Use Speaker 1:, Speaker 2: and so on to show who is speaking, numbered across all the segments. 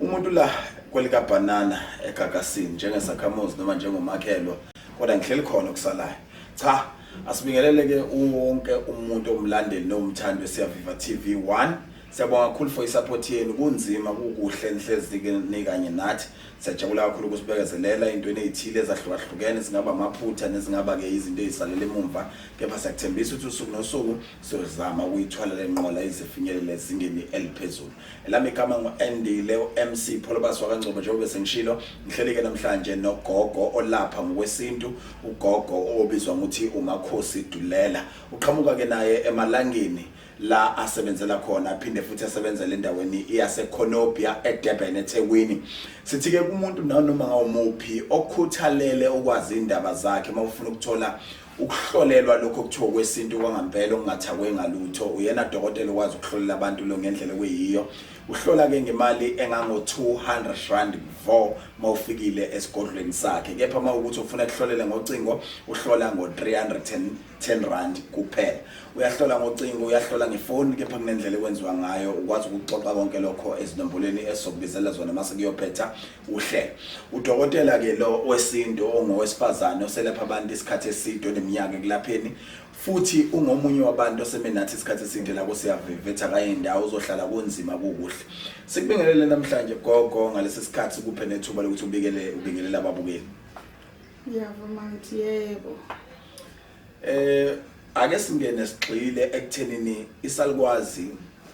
Speaker 1: Umuntu la kwelika banana egagasini njengesakhamuzi noma njengomakhelwa kodwa ngihleli khona okusalayo. Cha, asibingelele ke wonke umuntu omlandeli nomthandi siyaviva TV 1. Siyabonga kakhulu for isupport yenu kunzima kukuhle enhlezike nikanye nathi. Siyajabula kakhulu ukusibekezelela into enezithile ezahlukahlukene singaba amaphutha nezingaba ke izinto ezisalele emumva kepha siyakuthembisa ukuthi usuku nosuku sizama ukuyithwala lenqola izifinyelele ezingeni eliphezulu. Elami igama ngu-Andile uMC Pholobasi wakangcobo njengoba sengishilo ngihleleke namhlanje nogogo olapha ngokwesintu ugogo obizwa ngokuthi uMakhosi Dulela uqhamuka ke naye emalangeni la asebenzela khona aphinde futhi asebenzele endaweni yaseConopia eDurban eThekwini sithi ke kumuntu nanoma ngawumuphi okhuthalele ukwazi indaba zakhe mawufuna ukuthola ukuhlolelwa lokho kuthiwa okwesintu kwangampela okungathakwe ngalutho uyena dokotela okwazi ukuhlolela abantu lo ngendlela okuyiyo uhlola ke ngemali engango-200 rand vo uma ufikile esigodlweni sakhe kepha uma ukuthi ufuna kuhlolele ngocingo uhlola ngo-310 rand kuphela uyahlola ngocingo uyahlola ngefoni kepha kunendlela ekwenziwa ngayo ukwazi ukuxoxa konke lokho ezinombolweni esizokubizela zona uma sekuyophetha Uhle. Udokotela ke lo wesintu ongowesifazane oselapha abantu isikhathi eside oneminyaka ekulapheni futhi ungomunye wabantu oseme nathi isikhathi eside la kusiyavivetha kaye ndawo uzohlala kunzima kukuhle sikubingelele namhlanje gogo ngalesi sikhathi kuphe nethuba lokuthi ubikele ubingelele ababukeli ngiyavuma
Speaker 2: ngithi yebo Eh
Speaker 1: ake singene sigxile ekuthenini isalukwazi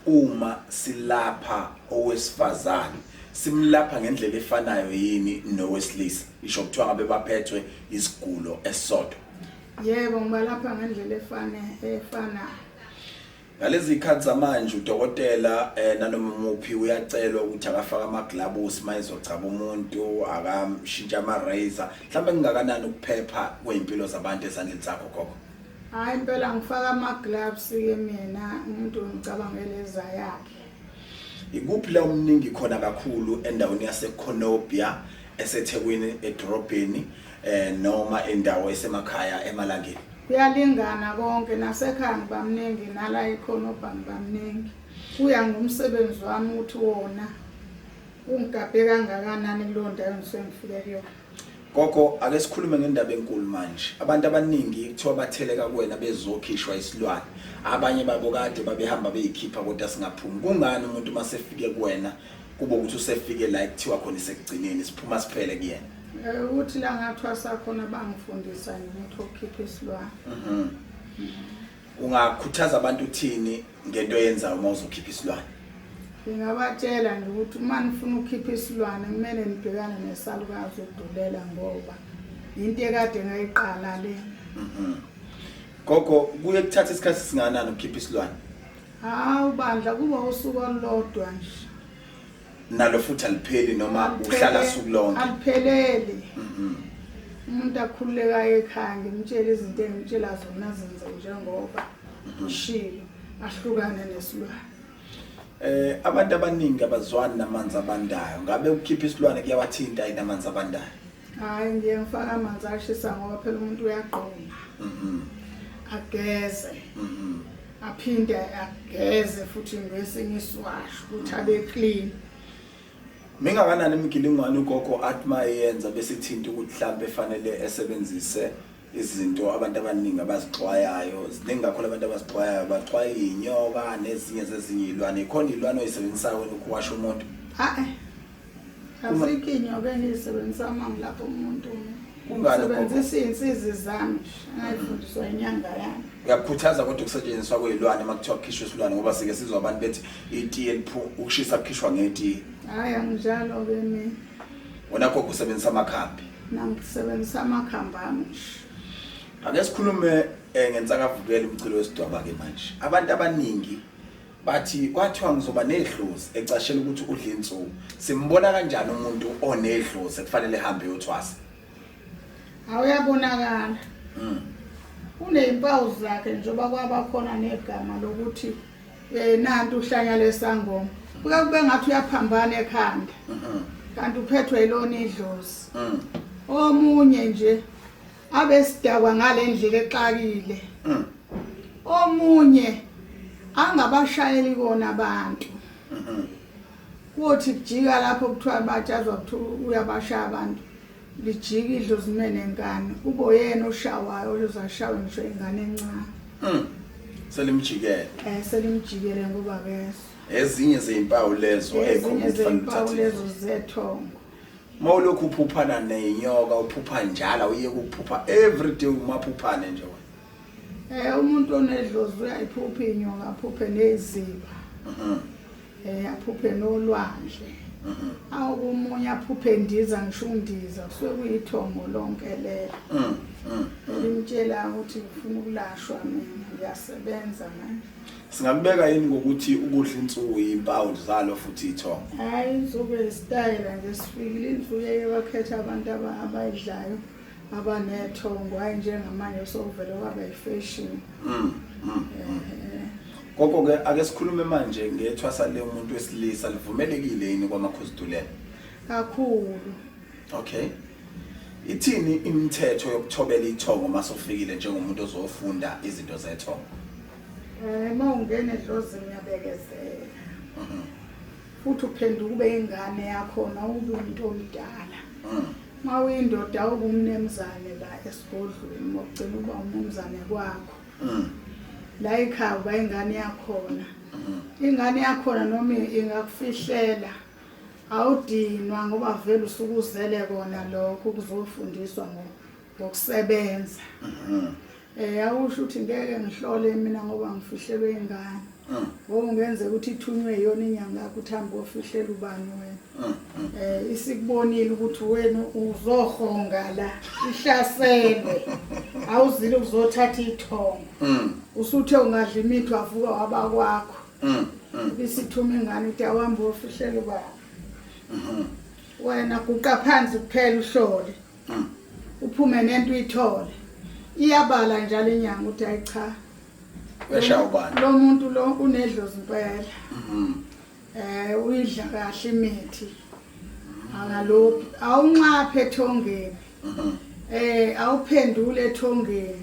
Speaker 1: uma silapha owesifazane simlapha ngendlela efanayo yini nowesilisa isho kuthiwa ngabe baphethwe isigulo esisodwa yebo
Speaker 2: ngibalapha ngendlela efane efanayo
Speaker 1: Ngalezi zikhathi zamanje udokotela eh, nanoma muphi uyacelwa ukuthi akafake amaglabusi uma ezogcaba umuntu akamshintshe ama-razor mhlawumbe kungakanani ukuphepha kwey'mpilo zabantu esandleni sakho gogo hhayi impela
Speaker 2: ngifaka ama-gloves-ke mina umuntu ngicabangele eza yakhe ikuphi
Speaker 1: la omningi khona kakhulu endaweni yasekhonobia esethekwini edorobheni eh noma indawo esemakhaya emalangeni kuyalingana
Speaker 2: konke nasekhaya ngibamningi nala ikhona obhangi bamningi kuya ngomsebenzi wami ukuthi wona ungigabhe kangakanani kuleyo ndawo engisengifike kuyona gogo ake
Speaker 1: sikhulume ngendaba enkulu manje abantu abaningi kuthiwa batheleka kuwena bezokhishwa isilwane abanye babo kade babehamba beyikhipha kodwa singaphumi kungani umuntu uma sefike kuwena kube ukuthi usefike la ekuthiwa khona isekugcineni siphuma siphele kuyena Eh, ukuthi la ngathwasa
Speaker 2: khona bangifundisa ngimuthi okukhipha isilwane mhm.
Speaker 1: ungakhuthaza abantu uthini ngento eyenzayo uma uzokhipha isilwane ngingabatshela
Speaker 2: nje ukuthi uma nifuna ukukhipha isilwane kumele nibhekane nesalukazi ukudulela ngoba yinto ekade ngayiqala le mhm.
Speaker 1: gogo kuye kuthatha isikhathi singanani ukukhipha isilwane hawu
Speaker 2: bandla kuba usuku olulodwa nje
Speaker 1: nalo futhi alipheli noma uhlala suku lonke alipheleli
Speaker 2: mhm. umuntu akhululekayo ekhaya ngimtshela izinto engimtshela zona zenze njengoba mhm. ushilo ahlukane nesilwane eh
Speaker 1: abantu abaningi abazwani namanzi abandayo ngabe ukukhipha isilwane kuyawathinta inamanzi abandayo hayi ngiye
Speaker 2: ngifaka amanzi ashisa ngoba phela umuntu uyagqoma mm-hmm. ageze mm-hmm. aphinde ageze futhi ngesinye isiwasho ukuthi abe clean
Speaker 1: mingakanani imigilingwane ugogo athi mayenza bese ithinta ukuthi mhlambe efanele esebenzise izinto abantu abaningi abazixwayayo ziningi kakhulu abantu abazixwayayo baxwaya iy'nyoka nezinye zezinye iy'lwane ikhona iy'lwane oyisebenzisayo wena ukuwasha umuntu ha-e azikho
Speaker 2: iy'nyoka engiyisebenzisa uma ngilapha umuntu sebenzisa iy'nsizi zami ngayifundiswa inyanga yami ngiyakukhuthaza kodwa
Speaker 1: ukusetshenziswa kwey'lwane uma kuthiwa kukhishwa isilwane ngoba sike sizwa abantu bethi itiye ukushisa kukhishwa ngetiye hhayi anginjalo-ke
Speaker 2: mina wona gogo
Speaker 1: usebenzisa amakhambi nangisebenzisa
Speaker 2: amakhambi ami ake
Speaker 1: sikhulume um ngensakavukela umculo wesidwaba-ke manje abantu abaningi bathi kwathiwa ngizoba nedlozi ecashela ukuthi udla insuku simbona kanjani umuntu onedlozi ekufanele ehambe yothwasa awuyabonakala
Speaker 2: mm. unezimpawu zakhe njengoba kwaba khona negama lokuthi Eh nanti uhlanya lesangoma. Kuke kube ngathi uyaphambana ekhanda. Mhm. Kanti uphethwe ilona idlozi. Mhm. Omunye nje abesidakwa ngalendlela exakile. Mhm. Omunye angabashayeli kona abantu. Mhm. Kuthi kujika lapho kuthiwa batshazwa ukuthi uyabashaya abantu. lijike idlo zimene ngane kube uyena oshawayo ozashawe ngisho ingane encane mm. selimjikele
Speaker 1: eh selimjikele
Speaker 2: ngoba keso ezinye zezimpawu
Speaker 1: lezo ezinye zezimpawu
Speaker 2: lezo zethongo mawulokhu
Speaker 1: uphuphana nenyoka uphupha njalo uye ukuphupha every day umaphuphane nje wena Eh
Speaker 2: umuntu onedlozi uyayiphupha inyonga aphuphe neziba. Mhm. Eh aphuphe nolwandle. Mhm. Awu kumunye aphuphe ndiza ngisho undiza kusuke kuyithongo lonke lelo. Mhm. Ngimtshela ukuthi ngifuna ukulashwa mina ngiyasebenza manje. Singakubeka yini
Speaker 1: ngokuthi ukudla insuku impawu zalo futhi ithongo? Hayi insuku
Speaker 2: yesitayela nje sifikile insuku eyebakhetha abantu abayidlayo. ngaba nethongo hayi njengamanje sokuvele kwaba yifashion mm, mm, mm.
Speaker 1: koko ke ake sikhulume manje ngethwasa le umuntu wesilisa livumelekile yini kwamakhozidulela kakhulu
Speaker 2: okay
Speaker 1: ithini imithetho yokuthobela ithongo uma sofikile njengomuntu ozofunda izinto zethongo um uma
Speaker 2: ungena edlozini uyabekezela mhm. futhi uphenduka ube ingane yakhona ube umuntu omdala mm. uma uyindoda awube umnemzane la esigodlweni uma ugcina uba umnemzane kwakho mm. la ekhaya uba ingane yakhona mm. ingane yakhona noma ingakufihlela awudinwa ngoba vele usukuzele kona lokho kuzofundiswa ngoba ngokusebenza mhm. eh awusho ukuthi ngeke ngihlole mina ngoba ngifihlelwe ingane mhm. ngokungenze ukuthi ithunywe yona inyanga yakho uthamba ofihlela ubani wena mhm. eh isikubonile ukuthi wena uzohonga la ihlaselwe awuzile uzothatha ithongo usuthe ungadla imithi wavuka waba kwakho isithuma ingane ukuthi awambe ofihlela ubani wena guqa phansi kuphela uhlole Ah, uphume nento uyithole iyabala njalo inyanga ukuthi ayi cha uyashaya
Speaker 1: ubani lo muntu lo
Speaker 2: unedlozi impela Mhm. eh uyidla kahle imithi angalophi awunxaphe ethongeni Mhm. eh awuphendule ethongeni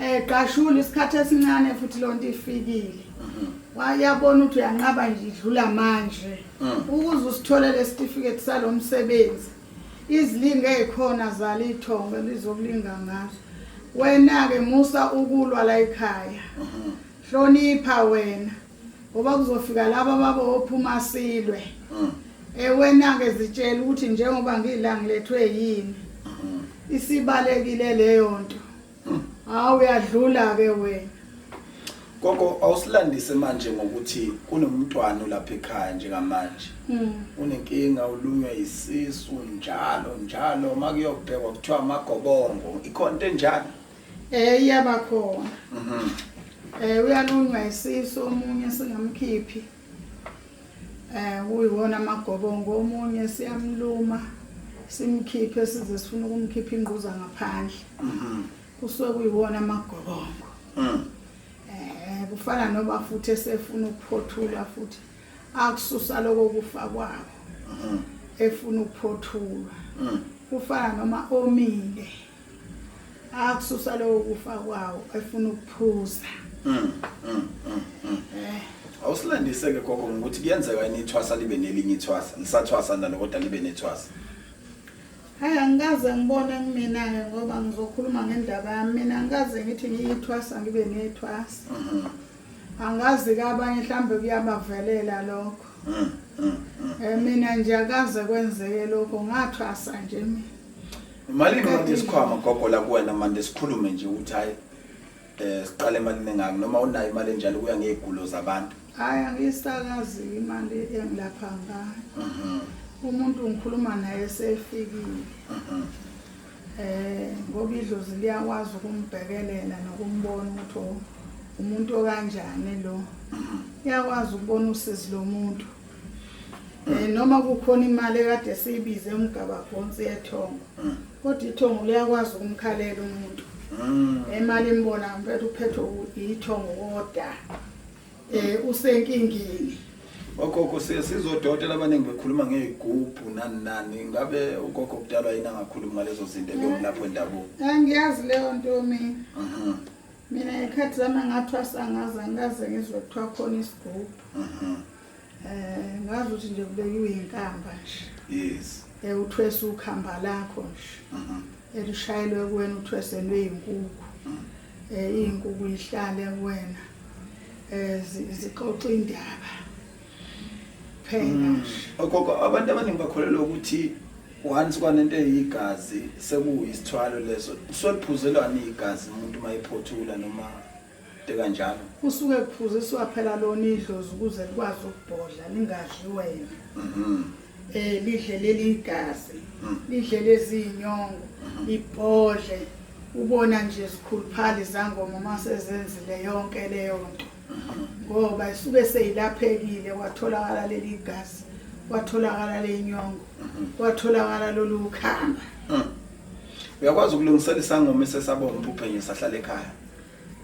Speaker 2: Eh qashula isikhathi esincane futhi lonto ifikile. Mhm. Wayabona ukuthi uyanqaba nje idlula manje. Mm. Ukuze usithole lesitifiketi salomsebenzi. Izilinge ezikhona zala ithongo lizokulinga ngazo. Wena ke musa ukulwa la ekhaya. Mhm. Hlonipha wena. ngoba kuzofika laba baba ophuma silwe mm. ewena-ke zitshela ukuthi njengoba ngiyilangilethwe yini mm. isibalekile leyo nto mm. hawu uyadlula-ke wena gogo
Speaker 1: awusilandise manje ngokuthi kunomntwana olapha ekhaya njengamanje hmm. unenkinga ulunywe isisu njalo njalo uma kuyobhekwa kuthiwa amagobongo ikhona into enjalo Eh iyaba
Speaker 2: khona. Mhm. Eh uyalunywa isisu omunye singamkhiphi. Eh uyiwona amagobongo omunye siyamluma simkhiphe size sifuna ukumkhipha ingquza ngaphandle. Mhm. Kusuke kuyiwona amagobongo. Mhm. Eh kufana noba futhi esefuna ukuphothula futhi akususa lokho kufa kwabo. Mhm. Efuna ukuphothulwa. Mhm. Kufana noma omile. akususa lowo kufa kwawo efuna ukuphuza mm, mm, mm,
Speaker 1: eh. awusilandise-ke gogo ngokuthi kuyenzeka yini ithwasa libe nelinye ithwasa nisathwasa nalo kodwa libe nethwasa
Speaker 2: hayi angikaze ngibone kumina-ke ngoba ngizokhuluma ngendaba yami mina angikaze ngithi ngiyithwasa ngibe nethwasa mhm. angazi ke abanye mhlawumbe kuyabavelela lokho um mina nje akaze kwenzeke lokho ngathwasa nje mina Imali imali
Speaker 1: isikhwama gogo la kuwena manje sikhulume nje ukuthi hayi eh siqale imali nengaki noma unayo imali enjalo kuya ngezigulo zabantu. Hayi angisakazi
Speaker 2: imali engilapha ngayo. Mhm. Umuntu ngikhuluma naye sefikile. Mhm. Eh ngoba idlozi liyakwazi ukumbhekelela nokumbona ukuthi oh, umuntu okanjani lo. Mhm. Iyakwazi ukubona usizi lomuntu. Eh, noma kukhona imali ekade siyibize umgabagonsi yethongo mm. kodwa ithongo liyakwazi ukumkhalela umuntu mm. imali imbona mpetha uphethwe ithongo koda um eh, usenkingini ogogo
Speaker 1: sizodokotela abaningi bekhuluma ngey'gubhu nani nani ngabe ugogo kudalwa yini angakhulumi ngalezo zinto ebengilapho eh, endabuko angiyazi leyo nto
Speaker 2: mina mhm. mina ngekhathi zami angathwasa ngaze angikaze ngizwe kuthiwa khona isigubhu mhm. Eh ngazi ukuthi nje kubekiwe inkamba nje. Yes. Eh
Speaker 1: uthwesa ukhamba
Speaker 2: lakho nje. Mhm. Elishayelwe kuwena uthweselwe izinkukhu. Mhm. Eh izinkukhu ihlale kuwena. Eh zixoxa indaba. Phela mm. nje. Ogogo
Speaker 1: abantu abaningi bakholelwa ukuthi once kwanento eyigazi sekuyisithwalo leso soliphuzelwani igazi umuntu mayiphothula noma kanjalo kusuke
Speaker 2: kuphuziswa phela lona idlozi ukuze likwazi ukubhodla lingadli wena mhm. eh lidle leli igazi mhm. lidle lezi inyongo mhm. libhodle ubona nje sikhuluphali zangoma uma sezenzile yonke leyo nto ngoba isuke seyilaphekile kwatholakala leli igazi kwatholakala le nyongo kwatholakala lolu khamba
Speaker 1: uyakwazi ukulungisela isangoma esesabonga ubuphenyo sahlala ekhaya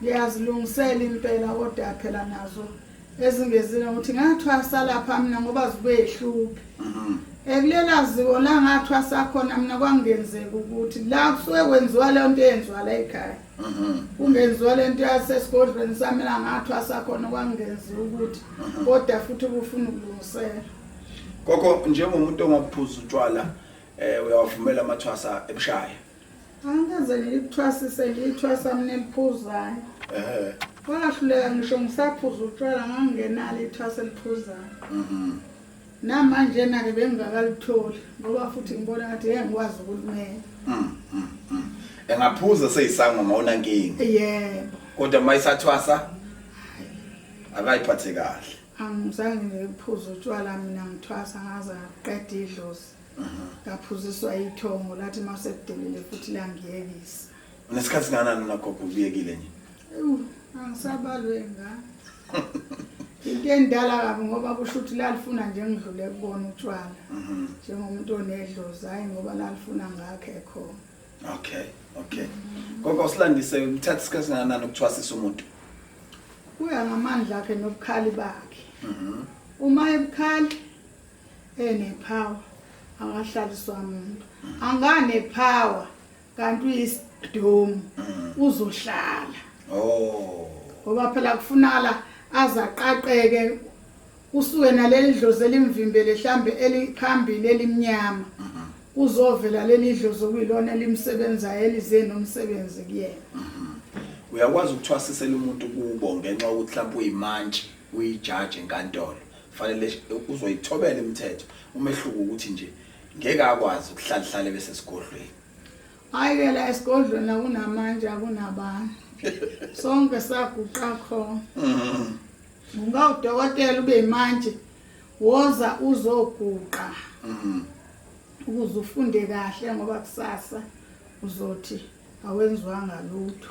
Speaker 1: ngiyazilungisela
Speaker 2: impela kodwa phela nazo ezingezile ukuthi ngathwasa lapha mina ngoba zibehluphi mhm. ekulela ziko la ngathwasa khona mina kwangenzeka ukuthi la kusuke kwenziwa leyo nto eyenziwa la ekhaya mhm. kungenziwa le nto yasesigodlweni sami la ngathwasa khona kwangenziwa ukuthi mhm. kodwa futhi kufuna ukulungisela koko
Speaker 1: njengomuntu ongaphuza utshwala um uyawavumela amathwasa ebushaya angikaze
Speaker 2: ngilithwasise ngilithwasa mina eliphuzayo eh. wahluleka ngisho ngisaphuza utshwala ngangingenalo ithwasa eliphuzayo mhm. namanjena-ke bengingakalitholi ngoba futhi ngibona ngathi ye ngikwazi ukulimela mm, mm, mm.
Speaker 1: engaphuza seyisangoma unankinga yebo kodwa
Speaker 2: uma isathwasa
Speaker 1: akayiphathe kahle angizange
Speaker 2: ngiphuze utshwala mina ngithwasa ngaze ngaqeda idlozi ngaphuziswa ithongo lathi uma sekudelile futhi langiyekisa unesikhathi singanani
Speaker 1: unagogo ubuyekile nje angisabalwe
Speaker 2: ngani into endala kabi ngoba kusho ukuthi lalifuna nje ngidlule kubona utshwala mhm. njengomuntu onedlozi hhayi ngoba lalifuna ngakhe khona
Speaker 1: okay okay gogo silandise kuthatha isikhathi singanani ukuthwasisa umuntu kuya
Speaker 2: ngamandla akhe nobukhali bakhe mhm. uma ebukhali enepower angahlaliswa muntu anganepower kanti uyisidomu uzohlala oh ngoba phela kufunala azaqaqeke kusuke naleli dlozi elimvimbele hlambe eliphambili elimnyama kuzovela leli dlozi okuyilona elimsebenzayo elize nomsebenzi kuyena
Speaker 1: uyakwazi ukuthwasisela umuntu kubo ngenxa yokuthi mhlawumbe uyimantshi uyijaji enkantolo fanele uzoyithobela imithetho umehluko ukuthi nje ngeke akwazi ukuhlalihlale bese sigodlweni hayi ke
Speaker 2: la esigodlweni akunamanje akunabani sonke saguqa khona mm-hmm. unga udokotela ube imanje woza uzoguqa mm-hmm. ukuze ufunde kahle ngoba kusasa uzothi awenzwanga lutho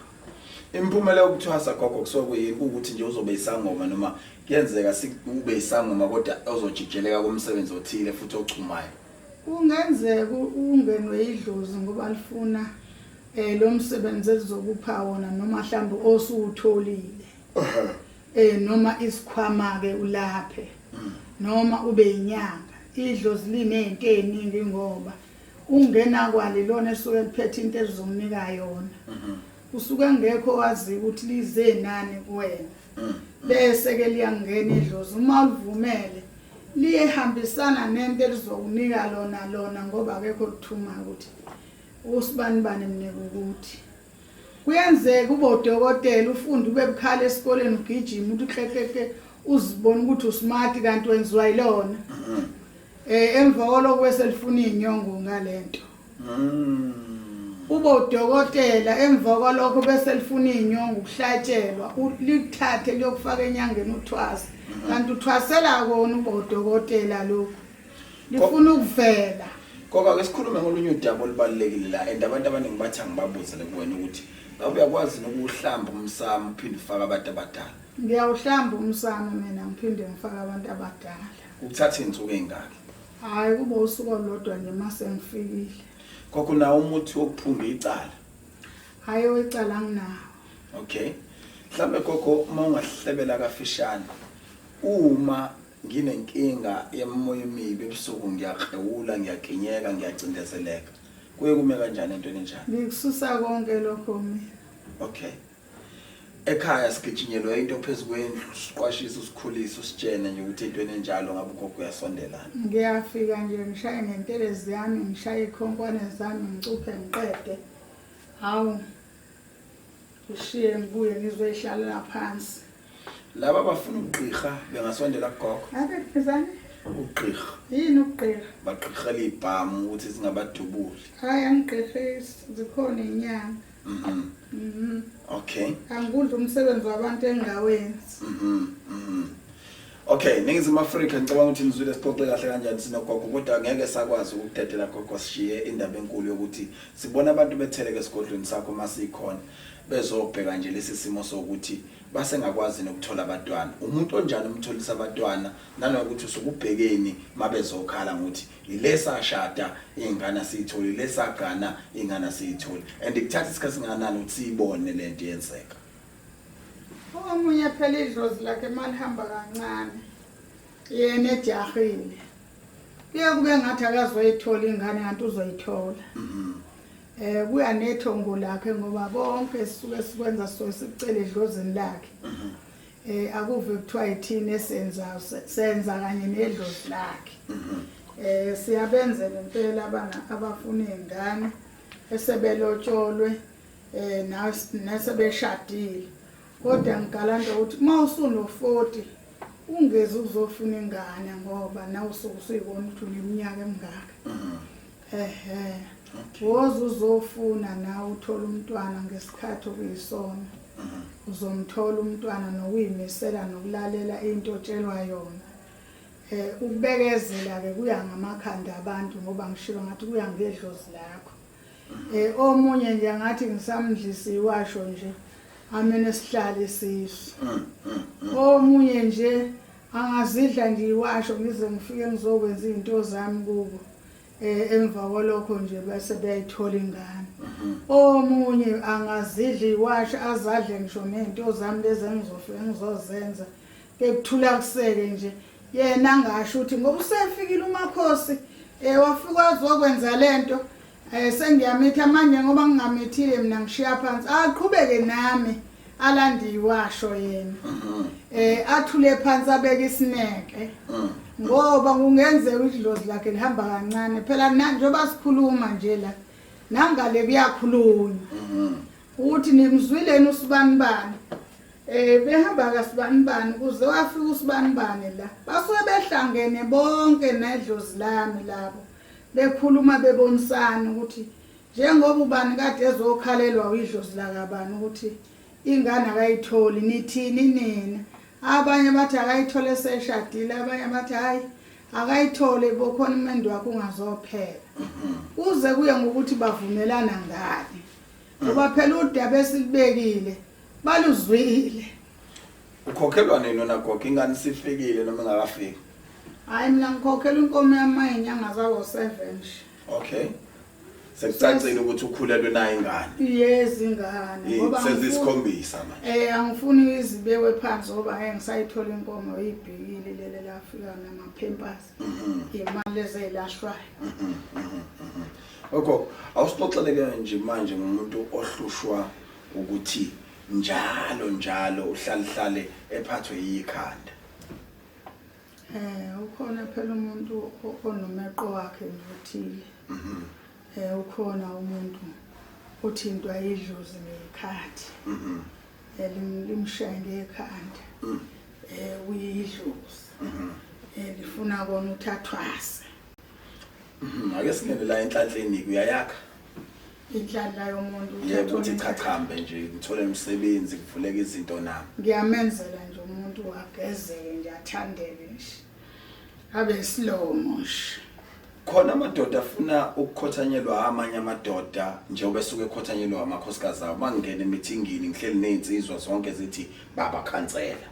Speaker 2: imphumela
Speaker 1: yokuthwasa gogo kusuke kuyini ukuthi nje uzobe isangoma noma kuyenzeka sikube isangoma kodwa ozojijeleka komsebenzi othile futhi ochumayo kungenzeka
Speaker 2: ungenwe idlozi ngoba lifuna eh lo msebenzi ezokupha wona noma mhlawumbe osuwutholile eh noma isikhwama ke ulaphe mm. noma ube inyanga idlozi linezinto eziningi ngoba ungenakwala ilona esuke liphethe into elizomnika yona mhm. usuke engekho waziyo ukuthi lize nani kuwena mhm. bese ke liyangena idlozi uma ulivumele liyehambisana nento elizokunika lona lona ngoba akekho kuthuma ukuthi usibani bani mnika ukuthi Kuyenzeka ube udokotela ufunde ube bukhali esikoleni ugijima uthi ukleklekle uzibona ukuthi usmart kanti wenziwa yilona. Mm. Eh emva koloko bese lifuna inyongo ngalento. Mm. Ube udokotela emva koloko bese lifuna inyongo ukuhlatshelwa ulithathe liyokufaka enyangeni uthwasa. Mm-hmm. Kanti uthwasela kona ube udokotela lokho. ngifuna ukuvela
Speaker 1: ngoba ke sikhulume ngolunye udaba olubalulekile la
Speaker 2: and
Speaker 1: abantu abaningi bathi angibabuze lekuwena ukuthi ngabe uyakwazi nokuhlamba umsamo uphinde ufake abantu abadala ngiyawuhlamba
Speaker 2: umsamo mina ngiphinde ngifake abantu abadala ukuthatha izinsuku
Speaker 1: ezingaki hayi kuba
Speaker 2: usuku olodwa nje mase ngifikile kokho nawo
Speaker 1: umuthi wokuphunga icala hayi
Speaker 2: wecala nginawo okay
Speaker 1: mhlambe kokho uma ungahlebela kafishane uma Nginenkinga yemoya emibi ebusuku ngiyakrewula ngiyaginyeka ngiyacindezeleka. Kuye kume kanjani entweni enjani? Ngikususa konke
Speaker 2: lokho mina. Okay.
Speaker 1: Ekhaya sigijinyelwe into phezu kwendlu, siqwashisa usikhulisa usitshene nje ukuthi entweni enjalo ngabe ugogo uyasondelana. Ngiyafika nje
Speaker 2: ngishaye ngentelezi yami, ngishaye ikhonkwane zami, ngicuphe ngiqede. Hawu. Ngishiye ngibuye ngizoyihlalela phansi. Laba
Speaker 1: bafuna ukugqirha bengasondela kugogo. Ake phezani.
Speaker 2: Ugqirha.
Speaker 1: Yini ugqirha?
Speaker 2: Bagqirhela ibhamu
Speaker 1: ukuthi singabadubuli. Hayi
Speaker 2: angigqirhisi zikhona inyanga. Mhm. Mhm.
Speaker 1: Okay. Angikudla umsebenzi
Speaker 2: wabantu engawenzi. Mhm. Mhm.
Speaker 1: Okay, ningizimu Afrika ngicabanga ukuthi nizwile sixoxe kahle kanjani sinogogo kodwa ngeke sakwazi ukudedela gogo sishiye indaba enkulu yokuthi sibona abantu betheleke esigodlweni sakho masikhona. bezobheka nje lesi simo sokuthi basengakwazi nokuthola abatwana umuntu onjani umtholisa abatwana nanokuthi usukubhekeni mabezokhala ngokuthi ilesa shada ingane siyitholi lesa gana ingane siyitholi and ikuthatha isikhathi singanani ukuthi siyibone lento yenzeka
Speaker 2: omunye phela idlozi lakhe malihamba kancane yena ejahile kuye kube ngathi akazoyithola ingane kanti uzoyithola mm-hmm. Eh kuya nethongo lakhe ngoba konke sisuke sikwenza so sicele edlozini lakhe. Mhm. Eh akuve kuthiwa yithini esenza senza kanye nedlozi lakhe. Mhm. Eh siyabenza ngempela abanga abafuna izingane esebelotsholwe eh nasebeshadile. Kodwa ngigalanda ukuthi uma usuno 40 ungezi uzofuna ingane ngoba nawe usuke usuyibona ukuthi uneminyaka emingaka. Mhm. ehe woze uzofuna nawe uthole umntwana ngesikhathi okuyisona mhm. uzomthola umntwana nokuyimisela nokulalela into otshelwa yona eh ukubekezela ke kuya ngamakhanda abantu ngoba ngishilo ngathi kuya ngedlozi lakho mhm. eh omunye nje ngathi ngisamdlisa iwasho nje amene sihlale sisu mhm, omunye nje angazidla nje iwasho ngize ngifike ngizokwenza izinto zami kubo eh emva kwalokho nje bese beyayithola ingane mhm. omunye angazidla iwashi azadle ngisho nento zami lezi engizofe engizozenza kekuthula kuseke nje yena angasho ukuthi ngoba usefikile umakhosi eh wafika azokwenza lento eh sengiyamitha manje ngoba ngingamithile mina ngishiya phansi aqhubeke nami alandiwe washo yena mhm. eh athule phansi abeke isineke mhm. ngoba kungenzeka idlozi lakhe lihamba kancane phela njengoba sikhuluma nje la nangale kuyakhulunywa mhm. uthi nimzwileni usibanibani eh behamba kasibanibani kuze wafika usibanibani la basuke behlangene bonke nedlozi lami labo bekhuluma bebonisana ukuthi Njengoba ubani kade ezokhalelwa uyidlozi lakabani ukuthi ingane akayitholi nithini nina abanye bathi akayithole seshadile abanye bathi hayi akayithole bokhona umendo wakhe ungazophela kuze kuye ngokuthi bavumelana ngani ngoba phela udaba esilibekile baluzwile
Speaker 1: ukhokhelwa nini wena gogo ingane sifikile noma ingakafiki hayi mina
Speaker 2: ngikhokhela inkomo yami mayinyanga zawo-seven nje okay
Speaker 1: sekucacile ukuthi ukhulelwe naye ingane yes ingane
Speaker 2: Yini, ngoba angifuni- sezisikhombisa
Speaker 1: manje eh angifuni izibekwe
Speaker 2: phansi ngoba ngeke ngisayithola inkomo ibhekile lele lafika namaphempers imali ezeyilashwayo
Speaker 1: Oko awusixoxeleke nje manje ngomuntu ohlushwa ukuthi njalo njalo uhlalihlale ephathwe yikhanda. Eh
Speaker 2: ukhona phela umuntu onomeqo wakhe nje othile. Mhm. Eh ukhona umuntu uthintwa idlozi ngekhathi. Mhm. Eh limshaye ngekhanda. Mhm. Eh uyidlozi. Mhm. Eh lifuna kona uthathwase.
Speaker 1: Mhm. Ake singene la enhlanhleni kuyayakha. inhlanhla
Speaker 2: yomuntu yeke ukuthi chachambe
Speaker 1: nje ngithole umsebenzi kuvuleka izinto nami ngiyamenzela nje
Speaker 2: umuntu agezeke nje athandeke nje abe isilomo nje khona
Speaker 1: amadoda afuna ukukhothanyelwa amanye amadoda njengoba esuke ekhothanyelwa amakhosikazi awo mangingena emithingini ngihleli nezinsizwa zonke zithi baba khansela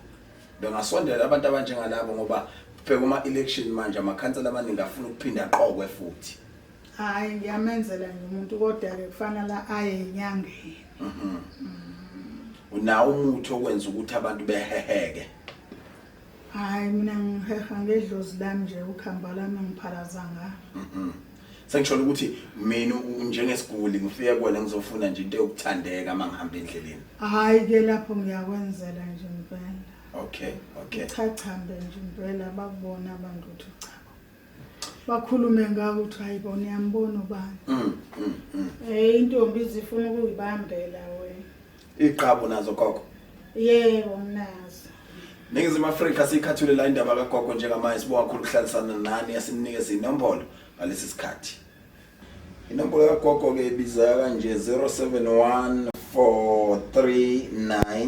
Speaker 1: bengasondela abantu abanjengalabo ngoba bheka uma election manje amakhansela amaningi afuna ukuphinda aqokwe futhi Hayi
Speaker 2: ngiyamenzela nje umuntu kodwa-ke kufanele aye enyangeni.
Speaker 1: Mhm. Unawo umuthi okwenza ukuthi abantu beheheke.
Speaker 2: Hayi mina ngiheha ngedlozi lami nje ukhamba lami ngiphalaza ngalo. Mhm. Sengisholo ukuthi
Speaker 1: mina u- njengesiguli ngifike kuwena ngizofuna nje into yokuthandeka uma ngihamba endleleni. Hayi-ke lapho
Speaker 2: ngiyakwenzela nje impela. Okay,
Speaker 1: okay. Cha cha mbe
Speaker 2: nje impela bakubona abantu ukuthi cha. bakhulume ngawo ukuthi hayi bona uyambona ubani mm, mm, mm. Eh intombi izifuna ukuyibambela wena. Iqhabu nazo
Speaker 1: gogo. Yebo
Speaker 2: mnazo. Ningizimu
Speaker 1: Afrika sikhathule la indaba kagogo njengamanje sibonga khulu ukuhlalisana nani yasinikeza inombolo ngalesi sikhathi. Inombolo kagogo ke ibiza kanje 071439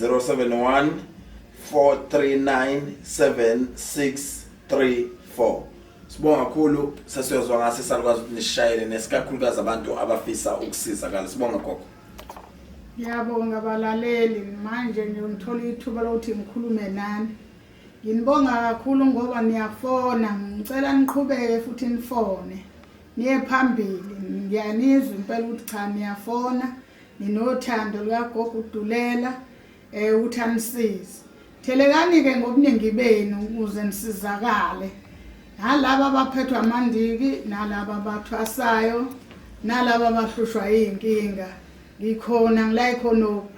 Speaker 1: 071 4397634 Sibonga kakhulu sesiyozwa ngase salukwazi ukuthi nishayele nesikakhulukazi abantu abafisa ukusiza kale sibonga gogo
Speaker 2: Ngiyabonga balaleli manje ngiyongithola ithuba lokuthi ngikhulume nani Nginibonga kakhulu ngoba niyafona ngicela niqhubeke futhi nifone niye phambili ngiyanizwa impela ukuthi cha niyafona nginothando lukagogo udulela um ukuthi anisize thelekani-ke ngobuningi benu ukuze nisizakale nalaba abaphethwa amandiki nalaba abathwasayo nalaba abahlushwa yiy'nkinga ngikhona ngilayi khonoku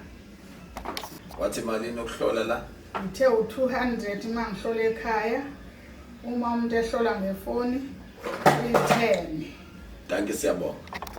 Speaker 1: wathi malini okuhlola la ngithe u-two
Speaker 2: hundred uma ngihlola ekhaya uma umuntu ehlola
Speaker 1: ngefoni
Speaker 2: uyi-ten
Speaker 1: danki
Speaker 2: siyabonga